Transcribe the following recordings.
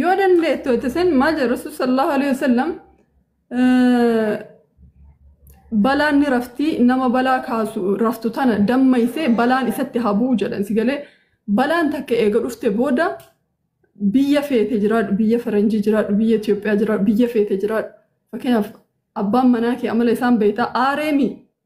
yoo dandeettu itti sen maal jedha rasuul sallallahu alaihi wasallam balaan ni raftii nama balaa kaasu raftu tana dammaysee balaan isatti habuu jedhan si galee balaan takka eega dhufte booda biyya feete jiraadhu biyya faranjii jiraadhu biyya Itoophiyaa jiraadhu biyya feete jiraadhu fakkeenyaaf abbaan manaa kee amala isaan beektaa aareemi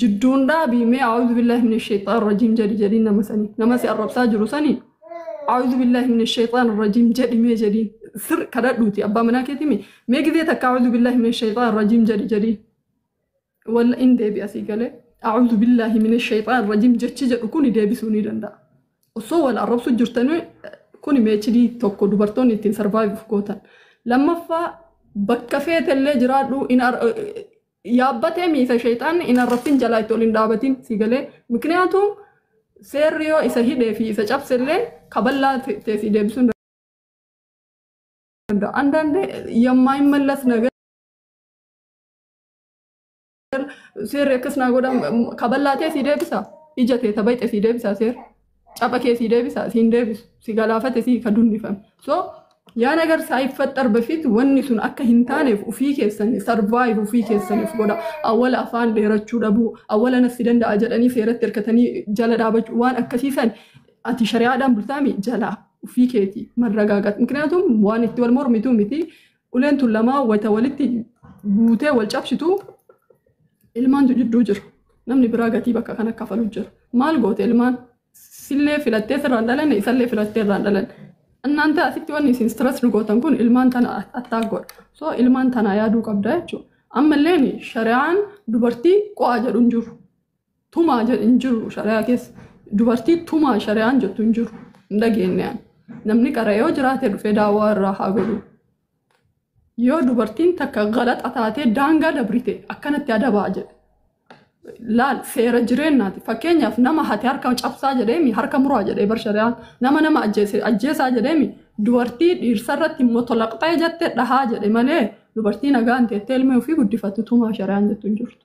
jidduun dhaabii mee a'uudhu billaahi min sheexaan rajiim jedhi jedhiin nama sanii nama si arrabsaa jiru sanii a'uudhu billaahi min sheexaan rajiim jedhi mee jedhiin sir kadhadhuuti abbaa manaa keetii mee mee gizee takka a'uudhu billaahi min sheexaan rajiim jedhi jedhiin walla in deebi asii galee a'uudhu billaahi min sheexaan rajiim jechi jedhu kuni deebisuu ni danda'a osoo wal arrabsu jirtanii kuni meechidii tokko dubartoonni ittiin sarvaayivuuf gootan lammaffaa bakka feetellee jiraadhu in ar- Yaabbatee miisa sheyxaanni hin arrabsin jalaa itti ol hin dhaabatin sii galee mikniyaatu seerri yoo isa hidhee fi isa cabse illee kaballaa ta'e sii deebisuu hin danda'u. Andaande yammaa hin mallas nagar seerri akkas naa godha kaballaa ta'e sii deebisa ija ta'e tabayxe sii deebisa seerri. Capha kee sii deebisa siin deebisu si galaafate sii ka dunnifame. So yaa nagar saayiffaxxar befiit wanni sun akka hin taaneef ufii keessanii sarvaayiv ufii keessaniif godha. Awwala afaan dheerachuu dhabuu awwala nafsi danda'a jedhanii seeratti hirkatanii jala dhaabachuu waan akkasii san ati shari'aadhaan bultaami jalaa ufii keeti marragaagat. Mikniyaatum waan itti wal mormituu miti Uleen tun lamaa wayta walitti buutee wal cabsitu ilmaantu jidduu jira. Namni biraa gatii bakka kana kafalu jira. Maal goote ilmaan? Sillee filattee sirraan dhalanne isallee filattee irraan dhalanne. Annaan ta'a asitti wanni isin stress nu gootan kun ilmaan tana attack godha. So ilmaan tanaa yaaduu qabda jechuudha. Ammalleen shari'aan dubartii qo'aa jedhu hin jiru. Tumaa jedhu hin jiru shari'aa keessa. Dubartii tumaa shari'aan jettu hin jiru. Hin dhageenye ani. Namni qara yoo jiraate dhufee daawwaa irraa haa godhu. Yoo dubartiin takka galaxa taatee daangaa dabrite akkanatti adabaa jedhe. Laal seera jireenyaati. Fakkeenyaaf nama hate harka cabsaa jedheemi harka muraa jedhee bar shari'aan. Nama nama ajjeese ajjeesaa jedheemi dubartii dhiirsa irratti motolaqxee jette dhahaa jedhe malee dubartii nagaan teettee ilmee ofii guddifattu tumaa shari'aan jettu hin jirtu.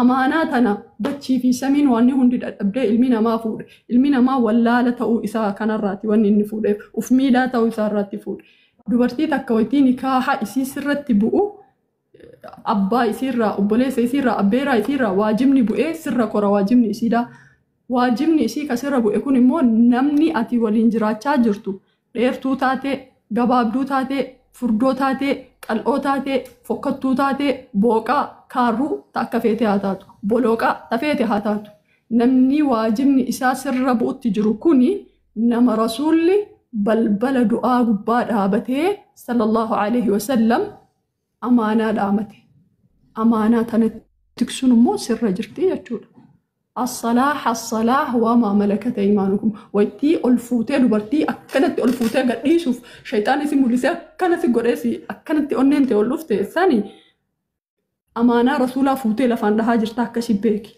Amaanaa tana dachii fi samiin waanni hundi dadhabdee ilmi namaa fuudhe. Ilmi namaa wallaala ta'uu isaa kanarraati wanni inni fuudheef. Uf miilaa ta'uu isaa irraatti fuudhe. Dubartii takka waytii nikaaha isii sirratti bu'u abbaa isiirraa, obboleessa isiirraa, abbeeraa isiirraa waajibni bu'ee sirra kora waajibni isiidhaa. Waajibni isii ka sirra bu'e kun immoo namni ati waliin jiraachaa jirtu dheertuu taatee, gabaabduu taatee, furdoo taatee, qal'oo taatee, fokkattuu taatee, booqaa, kaarruu ta akka feete haa taatu, bolooqaa ta feete haa taatu. Namni waajibni isaa sirra bu'utti jiru kuni nama Rasuulli balbala du'aa gubbaa dhaabatee, Sallallaahu aleyhi wa sallam, amaanaa dhaamate. Amaanaa tana tiksuun immoo sirra jirti jechuudha. Assalaa hassalaa waamaa malakata imaanukum. Waytii ol fuutee dubartii akkanatti ol fuutee gadhiisuuf shayxaan isi mul'isee akkana si godhee si akkanatti onneen tee ol dhufte sani amaanaa rasuulaa fuutee lafaan dhahaa jirta akkasi beeki.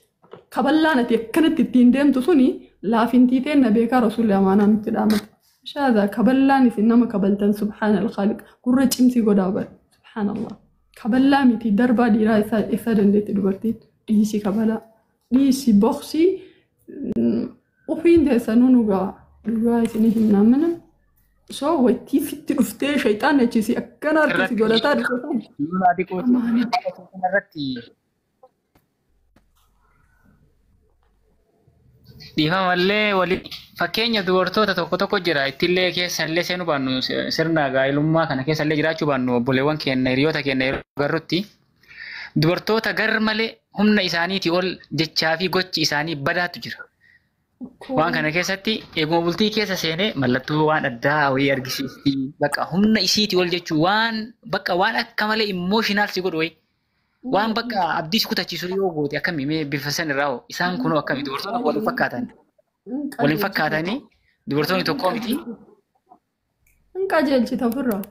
Kaballaan ati akkanatti ittiin deemtu suni laafintii teenna beekaa rasuulli amaanaa nutti dhaamate. Shaazaa kaballaan isin nama kabaltan subhaana alkhaaliq gurra cimsii godhaa bara subhaana allah. Kaballaa miti darbaa dhiiraa isaa isaa dandeetti dubartiin dhiisi kabalaa dhiisi boksii ufiin teessanuu nu ga'a dhugaa isinii hin naamina. So waytii sitti dhuftee shayxaan achiisi akkana harkisi godhataa dhufe. Lolaa xiqqoo Amaanaa. irratti Dhiifamallee wali fakkeenya dubartoota tokko tokko jira ittillee keessallee seenuu baannu sirna gaa'ilummaa kana keessallee jiraachuu baannu obboleewwan keenya hiriyoota keenya yeroo garrutti dubartoota gar malee humna isaaniitii ol jechaa fi gochi isaanii badaatu jira. Waan kana keessatti eeguma bultii keessa seenee mallattoo waan addaa wayii argisiisti. Bakka humna isiitii ol jechuun waan bakka waan akka malee immooshinaalsi godhu wayii. Waan bakka abdiis kutachiisu yoo goote akkami mee bifa san irraa hoo isaan kunoo akkami dubartoonni wal hin fakkaatan. Wal hin fakkaatanii dubartoonni tokkoo miti. Hin qajeelchita ofirraa.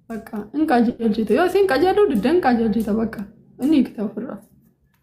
Bakka hin qajeelchita. Yoo isin qajeeluu didda hin qajeelchita bakka. Inni hiikta ofirraa.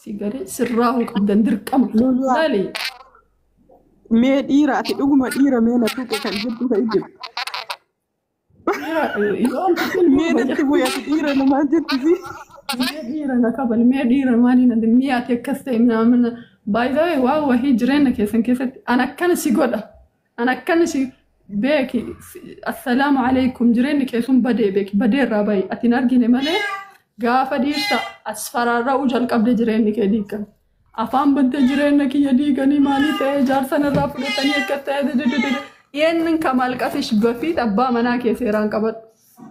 Si galee sirraa hoo qabdan dirqama. Lolaa. Lali. Mee dhiira ati dhuguma dhiira mee na tuqe kan jirtu ta'e jiru. Mee natti bu'e ati dhiira namaa jirtu si. Mee dhiira na kabal, mee dhiira maali na mee ati akkas ta'e naamina. Baay'ee waa wahii jireenya keessan keessatti an akkana si godha. An akkan isin beeki assalaamu alaikum jireenyi kee sun badee beeki badee irraa bahi ati hin argine malee gaafa dhiirsa as faraarra'uu jalqabde jireenyi kee diigan. Afaan bantee jireenya kiyya diiganii maalii ta'ee jaarsan irraa fudhatanii akka ta'e dededede. Yeennin kamaal qafish bafiit abbaa manaa kee seeraan qabadhu.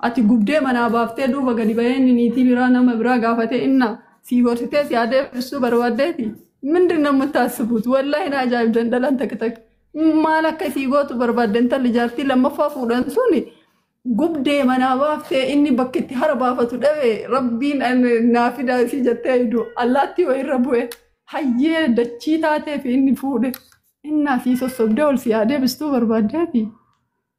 Ati gubdee manaa baaftee duuba gadi bahee inni niitii biraa nama biraa gaafatee inna sii horsitee si adeemsisuu barbaaddeeti. Mindin namni taasisuuf wallahi na ajaa'ibdan dhalan takka takka. Maal akka isii gootu barbaadde intalli jaartii lammaffaa fuudhan sun gubdee manaa baaftee inni bakka itti hara baafatu dhabe rabbiin an- naa fidaa isii jettee aydu allaattii wayirra bu'e hayyee dachii taatee fi inni fuudhe innaa sii sossobdee ol si haa deebistuu barbaaddeeti.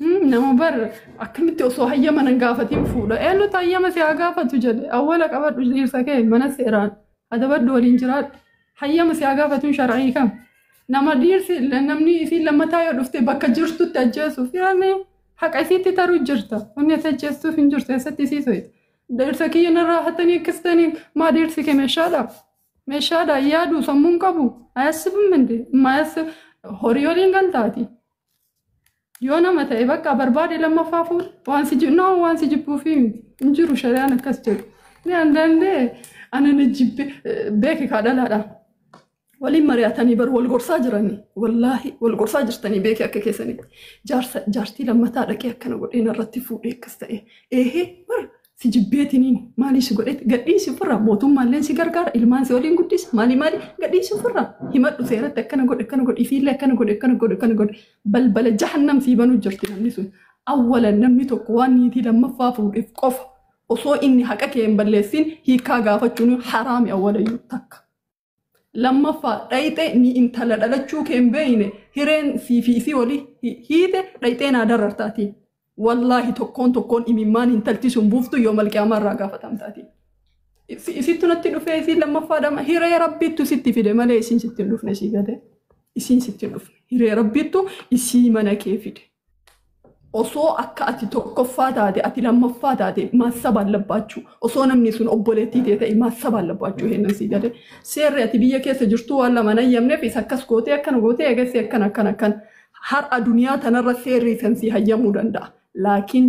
Nama bar akkamitti osoo hayyama nan gaafatiin fuudha. Eenyutu hayyama si haa gaafatu jedhe. Awwala qabadhu dhiirsa kee mana seeraan adabadhu waliin jiraadhu. Hayyama si haa gaafatuun shar'ii kam. Nama dhiirsi namni isiin lammataa yoo dhufte bakka jirtutti ajjeesuuf yaani haqa isiitti taruu jirta. Wanni ati ajjeestuuf hin jirtu eessatti isii soyita. Dhiirsa kiyya narraa hatanii akkasitanii maa dhiirsi kee meeshaadha. Meeshaadha yaadu sammuun qabu. Ayasibum minde. Mayasib horii waliin galtaati. Yoo nama ta'e bakka barbaade lammaffaa fuudhu waan si jibbu nama waan si jibbuu fi miti hin jiru shari'aan akkas jedhu. Ni andaandee ani ni jibbe beeki kaa dhalaadha. Waliin mari'atanii bar wal gorsaa jiranii wallaahi wal gorsaa jirtanii beeki akka keessanitti jaarsa jaartii lammataa dhaqee akkana godhee narratti fuudhee akkas ta'e eehee bar si jibbeetiniin maalii si godheet gadhiisi ofirraa mootummaalleen si gargaara ilmaan si waliin guddisa maalii maalii gadhiisi ofirraa himadhu seeratti akkana godhe akkana godhe ifiillee akkana godhe akkana godhe akkana godhe balbala jahannam sii banuu jirti namni sun awwalan namni tokko waan niitii lammaffaa fuudheef qofa osoo inni haqa kee hin balleessin hiikaa gaafachuun haraami awwalayyuu takka. Lammaffaa dhayxee ni intala dhalachuu kee hin beeyne hireen fi fi isii oli hiite dhayxee naa darartaatiin. Wallaahi tokkoon tokkoon imimmaan intalti sun buuftu yoo malqiyaamaa irraa gaafatamtaatiin. Isittu natti dhufee isiin lammaffaa dhama hiree rabbiittu sitti fide malee isiin sitti hin dhufne sii gade. Isiin sitti hin dhufne hiree rabbiittu isii mana kee fide. osoo akka ati tokkoffaa taate ati lammaffaa taate maassa baallabaachuu osoo namni sun obboleettii tee ta'e maassa baallabaachuu heennan sii galee seerri ati biyya keessa jirtuu waan lama nan yamneef isa akkas gootee akkana gootee eegassi akkana akkana akkana har'a duniyaa tanarra seerri isan sii hayyamuu danda'a laakiin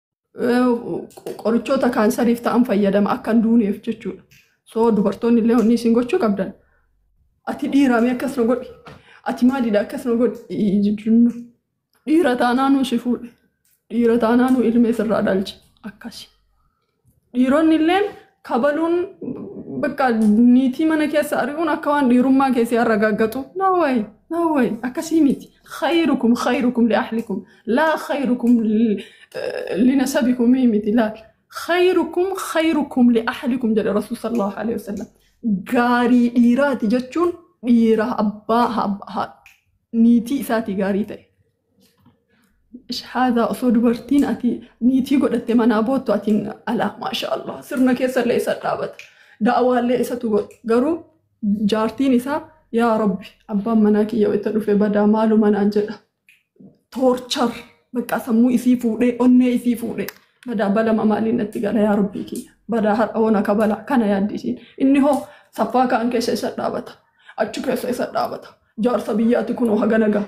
qorichoota kaansariif ta'an fayyadama akka hin duuneef jechuudha. So dubartoonni illee wanni isin gochuu qabdan ati dhiiraamee akkas na godhi ati maalidha akkas na godhi jechuun dhiira taanaanuu si fuudhe dhiira taanaanuu ilmee sirraa dhalche akkasi. Dhiironni illeen kabaluun bakka niitii mana keessa ari'uun akka waan dhiirummaa keessee har'a gaggaxu. Naawwayi naawwayi akkasii miti. Khayrukum khayrukum li ahlikum laa khayrukum li nasabikum miti laa. Khayrukum khayrukum li ahlikum jedhe Rasuul sallallahu alaihi wasallam. Gaarii dhiiraati jechuun dhiira abbaa niitii isaatii gaarii ta'e. Shahaadaa osoo dubartiin ati niitii godhatte manaa boottu ati alaa maasha Allah sirna keessallee isa dhaabata. Da'awaallee isatu godha. Garuu jaartiin isaa yaa rabbi abbaan manaa kiyya wayita dhufe badaa maaluma naan jedha. Toorchar bakka sammuu isii fuudhee onnee isii fuudhee badaa balama maaliin natti gala yaa rabbii kiyya. Badaa har'a hoona ka bala kana yaaddi isiin. Inni hoo saffaa kaan keessa isa dhaabata. Achi keessa isa dhaabata. Jaarsa biyyaati kunoo hagana gaha.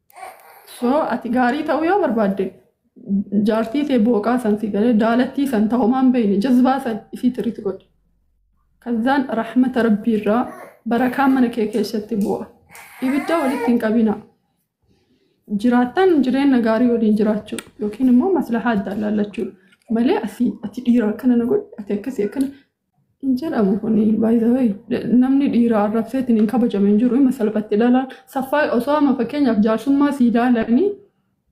Soo ati gaarii ta'uu yoo barbaadde jaartii tee booqaa san si galee daalattii san tahomaan beeyne jazbaa san isii tiritti godhi. Kazzaan rahmata rabbii irraa barakaan mana kee keessatti bu'a. Ibidda walitti hin qabina. Jiraattan jireenya gaarii waliin jiraachuu yookiin immoo maslahaa adda laallachuu malee asii ati dhiira akkana na godhi ati akkasii akkana Hin jedhamu kun baay'ee namni dhiiraa arrabseetiin hin kabajame hin jiru hima salphatti dhalaan saffaa osoo amma fakkeenyaaf jaarsummaa sii ilaalanii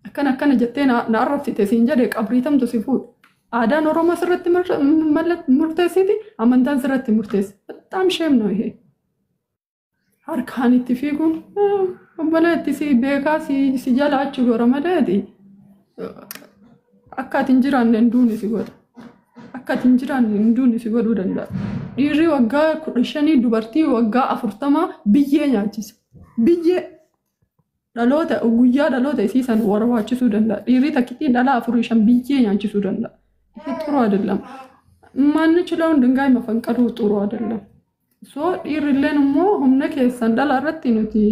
akkana akkana jettee na na arrabsite siin jedhe qabriitamtu si fuudha. Aadaan Oromoo sirratti murteessiti amantaan sirratti murteessi. Bataam sheem noo ihe. harkaan itti fiiguun obboleetti si beekaa si jalaachuu gora maleeti akka ati hin jiraanne hin duune si godha. Akka ati hin jiraanne hin duune si godhuu danda'a. Dhiirri waggaa kudha shanii dubartii waggaa afurtamaa biyyee nyaachisa. Biyyee Dhaloota guyyaa dhaloota isii san warwaachisuu danda'a. Dhiirri takkittiin dhala afurii shan biyyee nyaachisuu danda'a. Ifi xuru adeellam. Maannichi loon dingaay mafanqaluu xuru adeellam. So dhiirrilleen immoo humna keessan dhala irratti nuti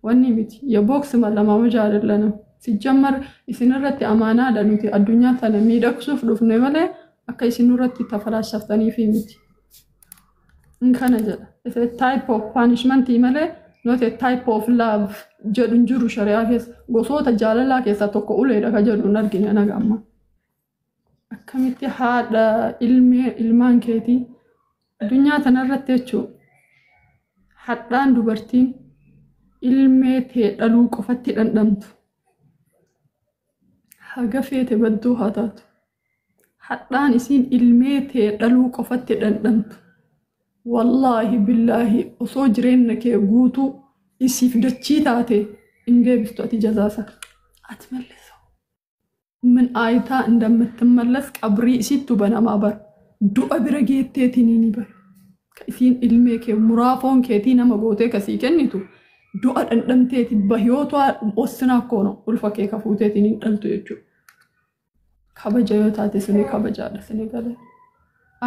wanni miti. Ya booksi malamaa hojaa adeellanam. Sijjammar isin irratti amaanaadha nuti addunyaa tana miidhagsuuf dhufne malee akka isin irratti tafalaasaftaniif miti. Inni kana jedha. It's a type of punishment malee not a type of love jedhu hin jiru shari'aa keessa. Gosoota jaalalaa keessaa tokko uleedha ka jedhu hin argine anaga amma. Akkamitti haadha ilmee ilmaan keetii addunyaa tanarratti jechuun hadhaan dubartiin ilmee tee dhaluu qofatti dhandhamtu. Haga feete badduu haa taatu. hadhaan isiin ilmee tee dhaluu qofatti dhandhamtu wallaahi billaahi osoo jireenna kee guutuu isiif dachii taate hin deebistu ati jazaasa ati malleessa min aayitaa indammattimmallas qabrii isiittu banamaa bar du'a bira geetteetiniini bar ka isiin ilmee kee muraafoon keetii nama gootee kasii kennitu du'a dhandhamteeti bahiyootaa ossinaa koono ulfa kee kafuuteetiniin dhaltu jechuudha kabaja yoo taate suni kabajaadha sini gale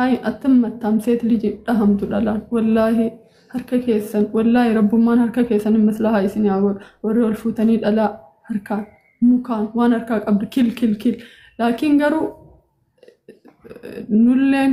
ayi attam mattam seet liji dhahamtu dhalaan wallaahi harka keessan wallaahi rabbummaan harka keessan hin maslahaa isin haa godhu warri ol fuutanii dhalaa harkaan mukaan waan harkaa qabdu kil kil kil laakiin garuu nulleen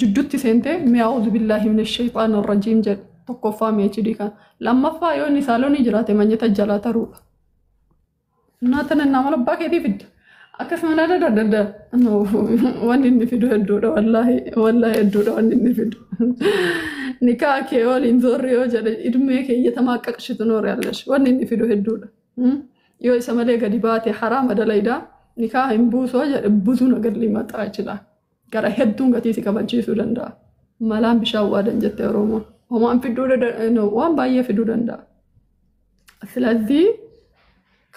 jiddutti seentee mi'a auzu billaahi min shayxaan rajiim jedhe tokkoffaa PhD kan lammaffaa yoo inni saalonii jiraate manyata jalaa taruudha. Naa tana naa mala abbaa keetii fidda. Akkasuma naa dada dada wanni inni fidu hedduudha wallaahi wallaahi hedduudha wanni inni fidu. Nikaa kee waliin zoorri yoo jedhe idmee kee iyyatamaa qaqshitu noore allash wanni inni fidu hedduudha. Hmm? Yoo isa malee gadi baate haraama dalaydaa nikaa hin buusoo jedhe butuu nagar limaxaa jechidha. Gara hedduun gatii si kabalchiisuu danda'a. Malaan bishaan waadan jette Oromoo. Homaan fiduu dada- no, waan baay'ee fiduu danda'a. Silazii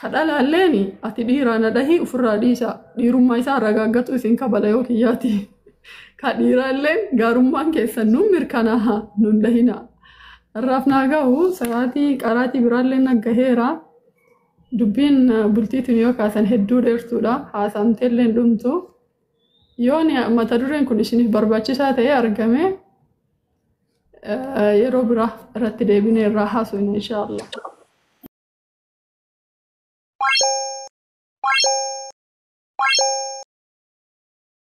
kadhalaalleen ati dhiiraa na dhahii ofirraa dhiisaa dhiirummaa isaa ragaaggatuu isin kabala yoo kiyyaati. Ka dhiiraallee gaarummaan keessan nuun mirkanaa'a nuun dhahinaa. Har'aaf naa gahu sa'aatii qaraatii biraallee na gaheera. Dubbiin bultiitiin yoo kaasan hedduu dheertuudha. Haasaamteellee hin dhumtu. Yoo mata dureen kun isiniif barbaachisaa ta'e argame yeroo biraa irratti deebinee irraa haasofna inshaallah. Thank you.